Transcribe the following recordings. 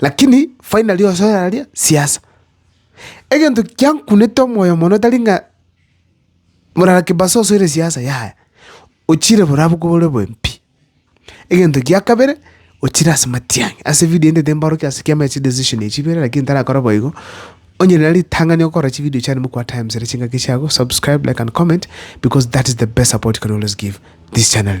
Lakini finally ose oraria siasa. Egento kiankunete omoyo mono tari ng'a morara Kimbaso osoire siasa yaya, ochire borabu bore bobe pi. Egento kia kabere, ochire ase matiang'i, ase evidio ende timbarokia ase ekiagera ase chidecision echio chibere lakini tarakora boigo, onye nere ritang'ani okora chividio chiane mokwa times ere chingaki chiago, subscribe, like and comment because that is the best support you can always give this channel.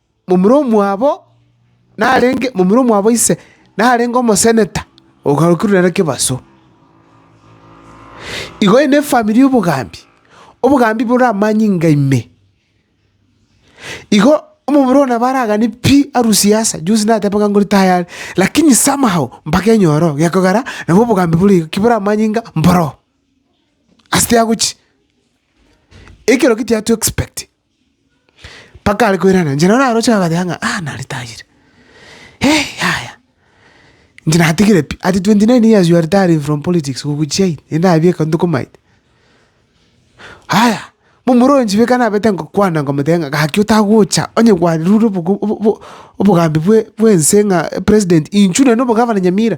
momura omwabo narenge, momura omwabo ise narenge omoseneta ogarokirwe nere kebaso. Igo ere nefamiri y'obogambi, obogambi bore amanyinga inga ime. Igo omomura oyo nabo aragane pi arusi ya Asa, juzi nateba ng'a ngorita ayare, lakini somehow mpaka enyore oo, gekogera nabo obogambi bore iga, kibore amanyinga mboro oo. Ase tiagochi, ekero ki tiatoexpecti. Mpaka are koirana, inche naro naroche nabateba ng'a ah nare tayire, eh yaya, inche natigire pi. At twenty nine years you are retiring from politics goku chiayi, rende nabia eka ntokomaete. Haya, momura oyo inche beka nabete ngokwana ngomotebia ng'a gaki otagocha onye kwarure obogo obo obo obogambi bwe bwense ng'a president inchuo nende obogavana nyamira.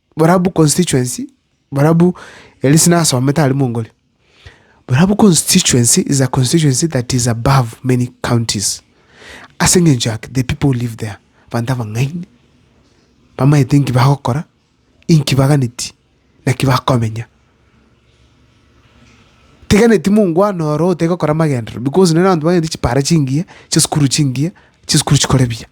Barabwo constituency, barabwo erio ase nasomete aria mongore, barabwo constituency is a constituency that is above many counties ase eng'encho ake the people who live there abanto abang'aini, bamaete nki bagokora, inki baganeti, naki bakomenya. Tegeneti mongwana oro otegokora amagenderero because nere abanto baganetie chipara chingiya, chisukuru chingiya, chisukuru chikore buya.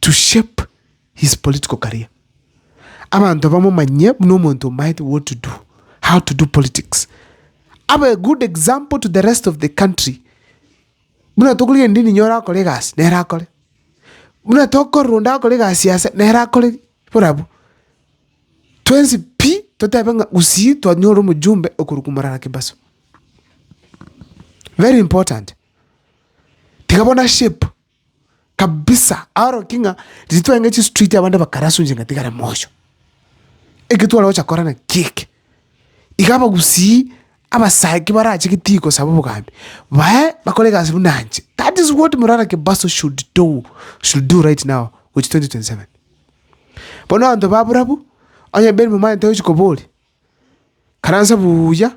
to shape his political career. Abanto bamomanyie buna omonto omaete what to do, how to do politics. Abe a good example to the rest of the country. Buna tokorigereria ndindi niye orakore egasi, nere akore. Buna tokorora onde akore egasi ase, nere akore borabwo. Twensi pi, totebe ng'a gusii twanyora omojumbe okorwa kwa Morara Kimbaso. Very important. Tiga bono a shape Kabisa aorokia ng'a riria twarenge chistreet abande bakarasunche ng'a tigare moyo. Eke twarogocha kora naki eke. Iga abagusii abasake barache geti gosaba obogambi, bae bakore egasi buna inche. That is what Murara Kimbaso should do, should do right now gochia 2027. Bono abanto ba barabwo, onye Ben Momanyi tochi koboria, karansa buya.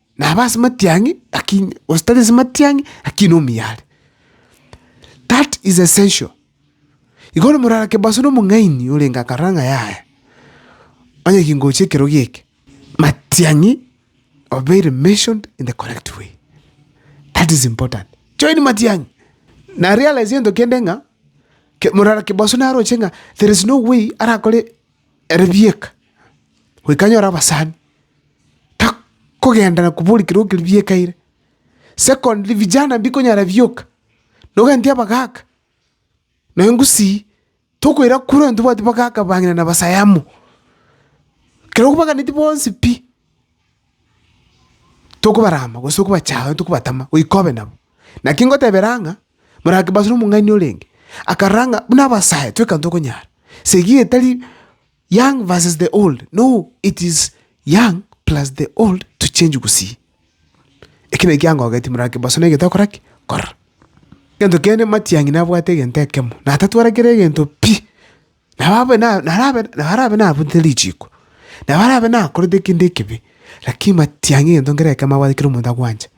Naba ase matiang'i lakini gose tari ase matiang'i lakini omuya are. That is essential. Igo bono omorara kebaso na omong'aini orenge akarora ng'a yaya, onye kingochia ekero gieke, matiang'i obeire mentioned in the correct way. That is important. Join matiang'i. Na realize egento kende ng'a, ke- morara kebaso naroche ng'a there is no way arakore Ere bieka, goika anyore abasani, takogenda na koboria kerwa keria biekaire. Secondly, vijana mbikonyara bioka, nogenti abagaka, na engusii, tokoira kure onye tobwati bagaka bang'ina na basaya amo. Kerokobaganetie bonsi pi. Tokobarama gose okobachaya gose tokobatama goika obe nabo. Naki ngotebera ang'a ng'a morake basore omong'aini orenge, akarora ng'a buna abasae twe ekero tokonyara. Esegi etari young versus the old no it is young plus the old to change gusii. Eki naki kiangogeti morake basore egento okora ki? Okora. Egento kende matiang'i nabwate egento ekemo, natatwara kera egento pi. Nabo nabarabe nabunte richiiko, na barabe nakorete kende ekibe, lakini batiang'e egento nkere ekemo abwate kera omonto agwancha,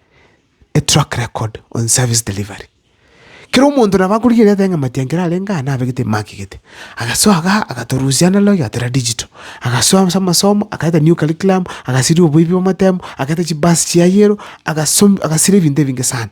a track record on service delivery. Kera omonto nabo akorigia riaria ateba ng'a matiang'i kere arenge aa nabegete emakigete. Agasoa igaa agatorusia ande logi agatera digital, agasoa ase amasomo akaleta new curriculum, agasiria oboibi bw'amatemu, akaleta chibus chia yellow, agasum agasira ebinto ebinge sana.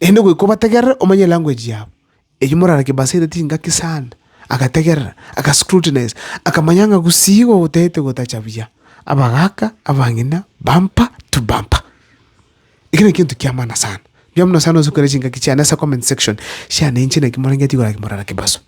Naende goika obategerere omanye elanguage yabo, eyio morare kebasete tingaki sana. Agategerera, agascrutinize, akamanya ng'a gusii igo gotagete gotacha buya. Abagaaka, abang'ina, bumper to bumper. Eki naki egento kia maana sana. Mbuya mono sana ase okoiraneria chingaki chiane ase comment section, siane inche naki morengeti igoro ake morara kebaso.